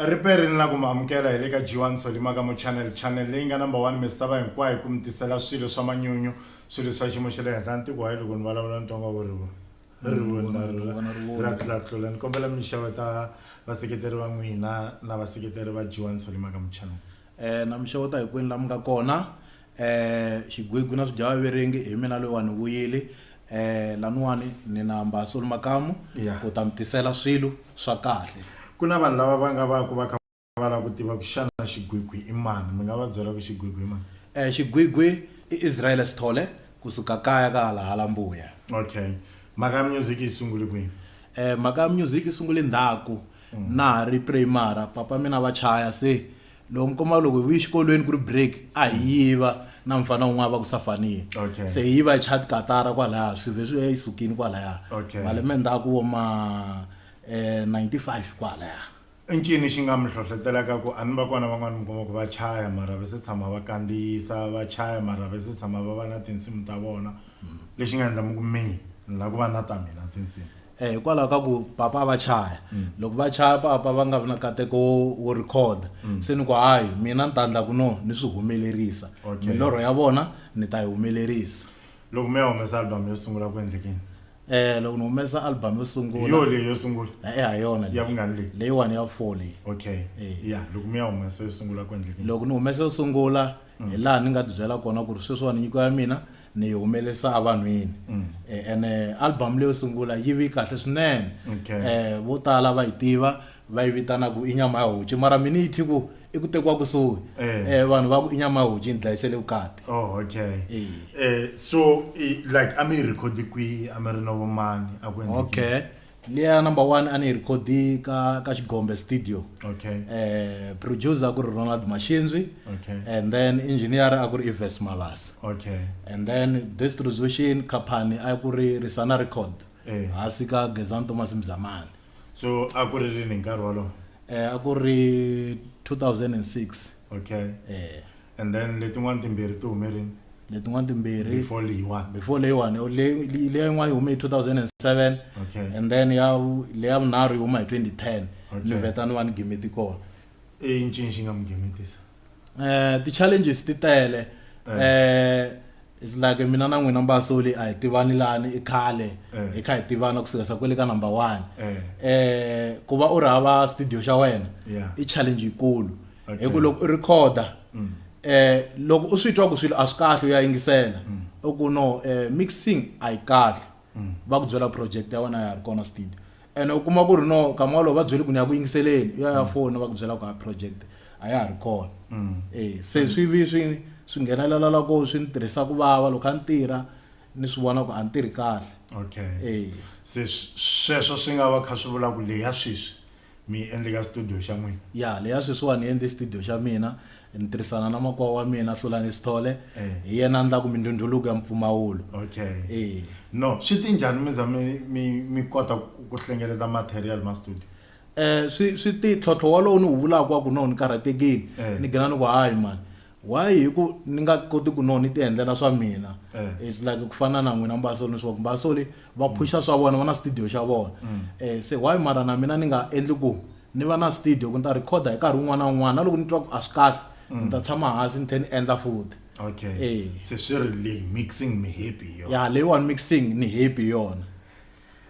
riperi ni la ku mi amukela hi le ka g1 solimaka mo channel channel leyi nga number one misava hinkwayo ku mi tisela swilo swa manyunyu swilo swa xiyimo xa le henhla ntiko wa yi loko ni vulavula ni tonga vurivo rivoni ra tlatlula ni kombela mi xava ta vaseketeri va n'wina na vaseketeri va g1 solimaka mo channel um na mi xeweta hinkwenu laha mi nga kona Eh xigwigwi na swidyawa verengi hi mina loyi wa ni vuyile eh laniwani ni na mbaso makamu yeah. u ta mi tisela swilo swa kahle ku na vanhu lava va nga va ku va kha va lava ku tiva ku xana xigwigwi i mani mi nga va byela ku xigwigwi i mani eh xigwigwi i Israel Sithole kusuka kaya ka hala hala mbuya okay mhaka ya music yi sungule kwini eh mhaka ya music yi sungule ndhaku mm. na ha ri primary papa mina va chaya se loko mi kuma loko hi vuye xikolweni ku ri break a hi yiva na mufana wun'wana va ku safaniya Okay. se hi yiva hi chat katara kwalaya swi vhe swi ya yisukini kwalaya Okay. malembe ndzhaku wo ma eh, 95 kwalaya i ncini xi nga mi hlohletelaka ku a ni va kona van'wani mi kuma ku va chaya mara va se tshama va kandziyisa va chaya mara va se tshama va va na tinsimu ta vona lexi nga endla mi ku mi ni la ku va na ta mina tinsimu Eh, hikwalaho ka ku papa a va chaya mm. loko va chaya papa va nga vi na kateko wo record mm. se ni ku hayi mina ni ta ndla ku no ni swi humelerisa milorho ya vona ni ta yi humelerisa loko mi ya humesa album yo sungula ku endlekini eh loko ni humesa album yo sungula yo leyi yo sungula eh, eh ha yona ya vungani leyi leyiwani ya four leyi okay eh. ya loko mi ya humesa yo sungula ku endlekini loko ni humesa yo sungula hi laha ni nga ti byela kona ku ri sweswiwani nyiko ya mina ni yi humelerisa evanhwini um ene album leyo sungula yi vi kahle swinene Okay. um vo tala va yi tiva va yi vitana ku i nyama ya hoci mara mina yi thi ku i ku tekiwa kusuhi Eh. um vanhu va ku i nyama ya hoci yi ni dlayisele vukati Oh, okay. Eh. Eh, so eh, like a mi yi record kwihi a mi ri na vomani a ku endleke yini? okay leya number one a ni yi record-i ka ka xigombe studio okay eh producer a ku ri ronald maxinzwi okay and then engineer a ku ri ives mabasa okay and then distribution company a ku ri risana record Eh. hansi ka gezan thomas mzamani so a ku ri rini hi nkarhi wolowo eh a ku ri 2006 okay eh and then letin'wana timbirhi ti hume rini letin'wana timbirhi before leyiwani before leyiwani leyin'wana yi hume hi 2007 okay and then ya leya vunharhu yi huma hi 2010 ni veta ni va ni gimeti kona i ncini xi nga mi gimetisa um ti-challenges ti tele um It's like mina na n'wina mbasoli a hi tivani lani i khale eh. hi kha hi tivana kusuka sa kwele ka number one eh. eh ku va u ri hava studio xa wena i challenge yikulu hi ku loko u recorda mm. eh loko u swi twa ku swilo a swi kahle u ya yingisela mm. u ku no eh, mixing a yi kahle mm. va ku byela project ya wena ya ri kona steed ene u kuma ku ri no kama walowo va byele ku ni ya ku yingiseleni u ya ya mm. foni va ku byela ku ha project a ya ha ri kona mm. e se swi vi swi swi nghenelela loko swi ni tirhisa ku vava loko a ni tirha ni swi vona ku a ni tirhi kahle okay e se sweswo swi nga va kha swi vula ku leya sweswi mi yi endle ka studio xa n'wina ya leya sweswiwani ni endle studio xa mina ni tirhisana na makwawa wa mina hlulani sithole eh. hi yena endlaku mindhundhuluko ya mpfumawulo okay eh. no swi ti njhani mi za mi mi mi kota ku hlengeleta material ma studio eh swi swi ti tlhotlho walowo ni wu vulaka wa ku no ni karhatekile eh. ni gina ni ku hayi mani Why hi ku ni nga koti ku no ni ti endlela swa mina Eh. it's like ku fana na n'wina mbasoli ni swaku mbasoli va phusha swa vona va na studio xa vona eh se why mara na mina ni nga endli ku ni va na studio ku ni ta recorder hi nkarhi wun'wana na wun'wana na loko ni twa ku a swi kahle ni ta tshama hansi ni tlhe ni endla futhi okay Eh. se swi ri leyi mixing mi happy hi yona ya leyiwani mixing ni happy hi yona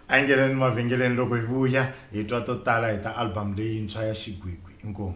a yi ngeneni mavhengeleni loko hi vuya hi twa to tala hi ta album leyintshwa ya xigwigwi inkomu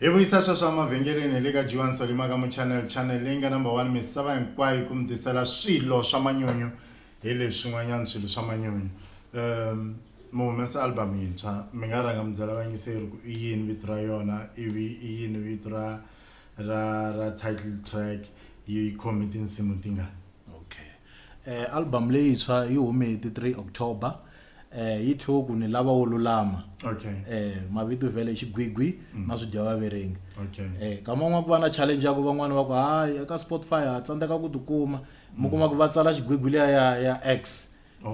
hi vuyisa sweswo emavhengeleni hi le ka juan solima ka muchanel channel leyi nga number one misava hinkwayo ku mi tisela swilo swa manyunyu hi leswin'wanyana swilo swa manyunyu um mi humesa album yintshwa mi nga rhanga mi byela vayingiseri ku i yini vito ra yona ivi i yini vito ra ra ra title track yi khome tinsimu tingani okay Album leyintshwa yi hume hi ti 3 October yi thyiwe ku ni lava wo lulama mavito vhele xigwigwi na swidyawaverengi nkama wun'wana ku va na challenge ya ku van'wani va ku hayi eka Spotify ha tsandzeka ku tikuma mi kuma ku va tsala xigwigwi liya ya ya X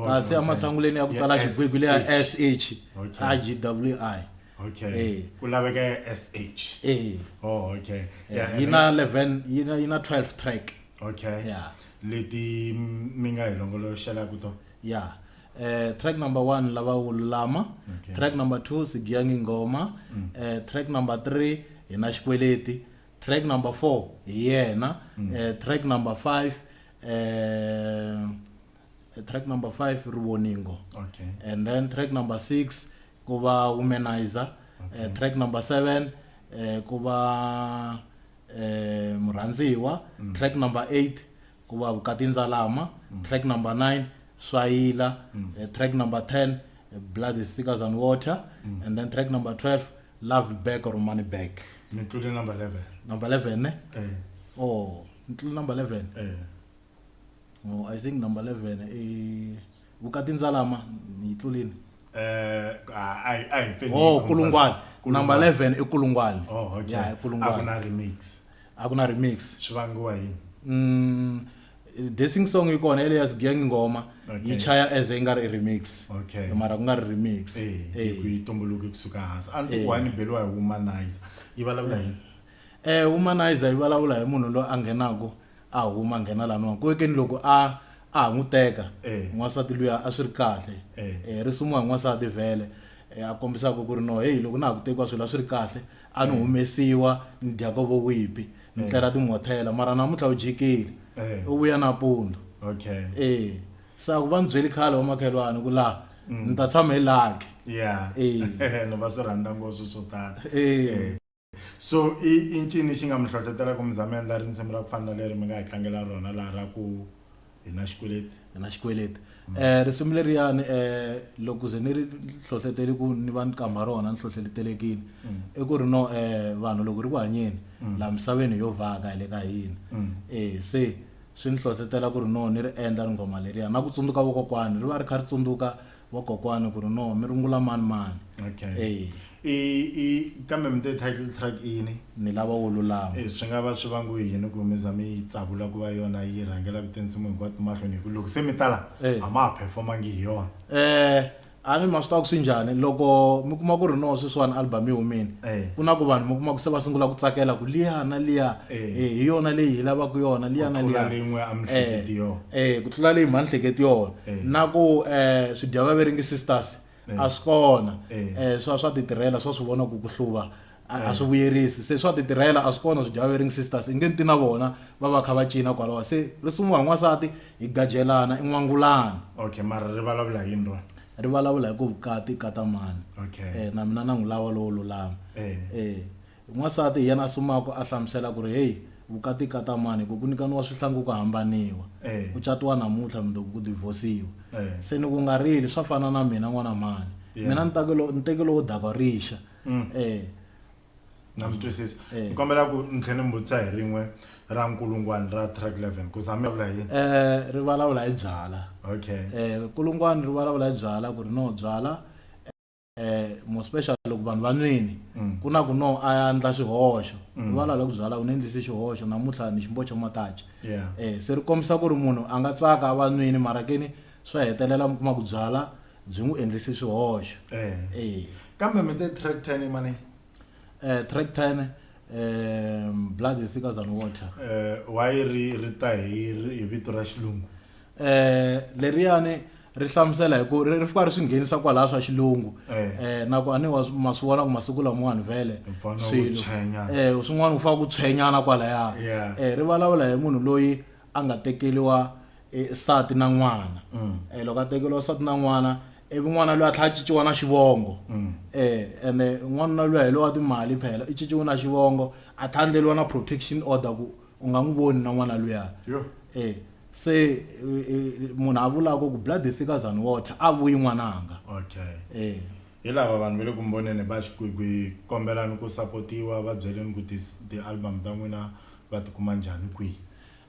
kasi ematshanguleni ya ku tsala xigwigwi liya S_H I_G_W_I ku laveka ya S_H yi na eleven yi na yi na twelve track. okay yeah leti mi nga hi longoloxelaka tona yeah uh, track number one lava wululama okay. track number two sigiyangi ngoma mm. uh, track number three hi na xikweleti track number four hi yena mm. uh, track number five uh, eh, track number 5 rivoningo okay and then track number 6 ku va womanizer okay. uh, track number 7 uh, ku va uh, murhandziwa mm. track number 8 ku va vukati ndzalama mm. track number 9 swayila mm. uh, track number 10 uh, blood is thicker than water mm. and then track number 12 love back or money back ni tlule number 11 number 11 ne eh. oh ni tlule number 11 eh. no i think number 11 i vukati ndzalama ni yi tlulini eh a hi a hi pfeni oh kulungwani number 11 i kulungwani oh okay ya i a ku kulungwani na remix a ku na remix swi vangiwa yini mm dancing song yi kona elias gang ngoma Okay. yi chaya as yi nga ri remix Okay. mara ku nga ri remix eh Eh. ku yi tumbuluke kusuka hansi a ni Eh. ti wani beliwa hi womanizer yi vulavula yini eh womanizer yi vulavula hi munhu loyi a nghenaka A huma a nghena laha nwaku weke ni loko a a ha n'wi teka n'wansati luya a swi ri kahle e risumuwa hi n'wansati vhele e a kombisaka ku ri no heyi loko na ha ku tekiwa swilo a swi ri kahle a ni humesiwa ni dya ka vo wipi ni tlela timhothela mara namuntlha u jikile u vuya nampundzu e se a ku va ni byeli khale vamakhelwani ku laha ni ta tshama hi lucky e ni va swi rhandza ngopfu swo tala e. So i i ncini xi nga mi hlohlotelaka mi za mi endla risimu ra ku fana na leri mi nga hi tlangela rona laha ra ku hi na xikweleti hi na xikweleti um risimu leriyani um loko ze ni ri hlohletele ku ni va ni kama rona ni hlohletelekile mm. i ku ri no um vanhu loko ri ku hanyeni mm. laha misaveni hi yo vhaka hi le ka hina mm. e se swi ni hlohletela ku ri no ni ri endla ri nghoma leriya na ku tsundzuka vokokwani ri va ri kha ri tsundzuka vo kokwani ku ri no mi rungula mani mani okay e i i kambe mi te title track ini mi lava wo lulama e swi nga va swi vangu yini ku mi za mi tsakula ku va yona yi rhangela ku tinsimu hinkwato mahlweni hi ku loko se mi tala e. a ma ha performangi hi yona eh a ni ma swi tiva ku swi njhani loko mi kuma ku ri no sweswiwani album yi humile e. ku na ku vanhu mi kuma ku se va sungula ku tsakela ku liya na liya e. e hi yona leyi hi lavaka yona liya na liya ku tlula leyi mhanhleketi yona Eh. na ku um eh, swidyavaveringi sisters eh. a swi kona um swa swa titirhela swa swi vona ku ku hluva a swi vuyerisi se swa titirhela a swi kona swidyavaveringi sisters i nge ni ti na vona va va kha va cina kwalawa se ri sungula hi n'wansati hi gajelana i n'wangulana okay mara ri vulavula yini rona ri vulavula hi ku vukati katamani okay. um na mina na n'wi lava lowo lulama um N'wansati hi yena a sumaka a hlamusela ku ri, Heyi, vukati i kata mani, hi ku ku nikaniwa swihlangi ku hambaniwa. Ku catiwa namuntlha mundzuku ku divhosiwa. Se ni ku nga rili, swa fana na mina n'wana mhani. Mina ni take lo, ni teke lowo dakwa rixa. E. Na mi twisisa. Ni kombela ku ni tlhe ni mi vutisa hi rin'we ra nkulungwani ra track 11 ku za mi vula hi yini? E, ri valavula hi byala. Okay. E, nkulungwani ri valavula hi byala ku ri no byala. eh mo special loko vanhu va nwini mm. ku na ku no a ya ndla xihoxo mm. va lala ku byala u ni endlise xihoxo namuntlha ni ximbo xa matacha eh se ri kombisa ku ri munhu a nga tsaka a va nwini mara ke ni swa hetelela mi kuma ku byala byi n'wi endlise swihoxo eh. eh kambe mi te track ten i mani eh track ten um blood is thicker than water eh why ri ri ta hi vito ra xilungu eh leriyani ri hlamusela hi ku ri fika ri swi nghenisa kwalaha swa xilungu eh, eh na ku aniwa ma swi vona ku masiku lamawani vhele swilo eh swin'wana ku faka ku tshwenyana kwalaya eh ri vulavula hi munhu loyi a nga tekeliwa eh, sati na n'wana mm. eh loko a tekeliwa sati na n'wana ivi n'wana loyi a tlhela a ciciwa na xivongo mm. eh ene n'wanuna loyi hi lowa timali phela i ciciwe na xivongo a tlhandleliwa na protection order ku u nga n'wi voni na n'wana luya e se munhu a vulaka ku blood is thicker than water a vuyi n'wananga okay e hi lava vanhu va le ku mboneni va xikwigwi kombelani ku sapotiwa va byeleni ku ti-album ta n'wina va tikuma njhani kwihi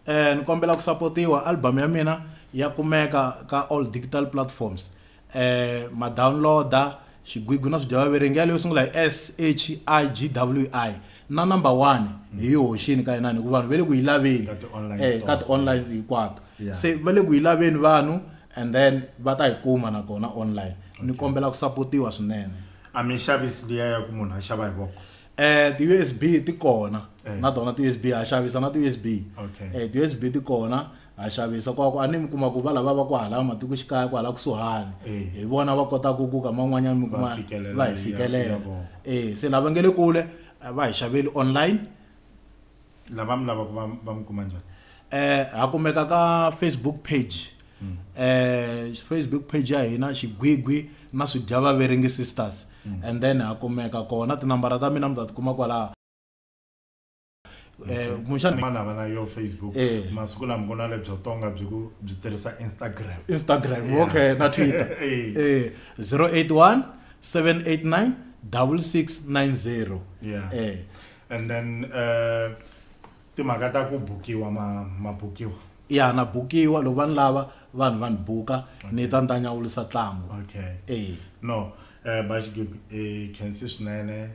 um ni kombela ku sapotiwa album ya mina ya kumeka ka all digital platforms eh, ma downloader xigwigwi na swidyawaverengi yaleyo sungula hi s h i g w i na number one mm. hi yi hoxini ka yinani hikuva vanhu va le ku yi laveni ka ti-online eh, hinkwato se va le ku yi laveni vanhu and then va ta yi kuma nakona online ni kombela ku sapotiwa swinene a mi xavisi liya ya ku munhu a xava hi voko Eh ti USB ti kona eh. na tona ti USB ha xavisa na ti USB okay. eh ti USB ti kona ha xavisa kwa ku a ni mi kuma ku va lava va ku hala matiko xikaya ku hala kusuhani eh. hi vona va kota ku ku ka man'wanyana mi kuma va hi fikelela eh se lava nge le kule va hi xaveli online lava mi lavaka va va mi kuma njhani eh ha kumeka ka facebook page mm. eh facebook page ya hina xigwigwi na swidyavaveringi sisters mm. and then ha kumeka kona tinambara ta mina mi ta tikuma kwalaha eh, kumbexana mani hava na yo facebook eh. masiku lama ku na lebyo tonga byi ku byi tirhisa instagram instagram okay na twitter eh 081 789 6690 yeah. eh and then uh, timhaka ta ku bukiwa ma, ma bukiwa ya na bukiwa loko va ni lava vanhu va ni buka ni ta ni ta nyawulisa ntlangu okay e no um baxigib i khensi swinene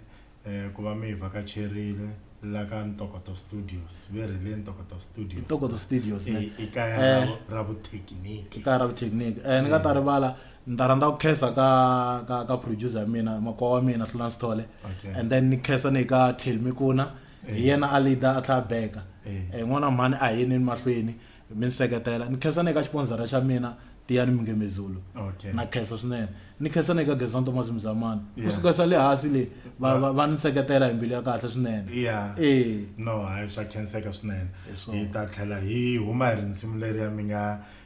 um ku va mi hi vakacherile la ka ntokoto studios ve ri le ntokoto studios ntokoto studios ne i i kaya ra Eh. vu- ra vuthekiniki ikaya ra vuthekiniki um ni nga ta rivala ni ta rhandza ku khensa ka ka ka producer ya mina makwavo wa mina hlula sithole Okay. and then ni khensa ni ka tail mikuna hi yena a leader a tlhela a beka Eh. Eh, n'wana mhani a hi yeni mahlweni mi ni seketela ni khensa ni ka xiponzara xa mina tiyani mingemezulu Okay. na khensa swinene ni khensa ni ka gezan thomas mzamani Yeah. kusuka sa le hansi le va- va va ni seketela hi mbilu ya kahle swinene Yeah. Eh. no hayi swa khenseka swinene Hi swona. hi ta tlhela hi huma hi ri nsimu leri ya mi nga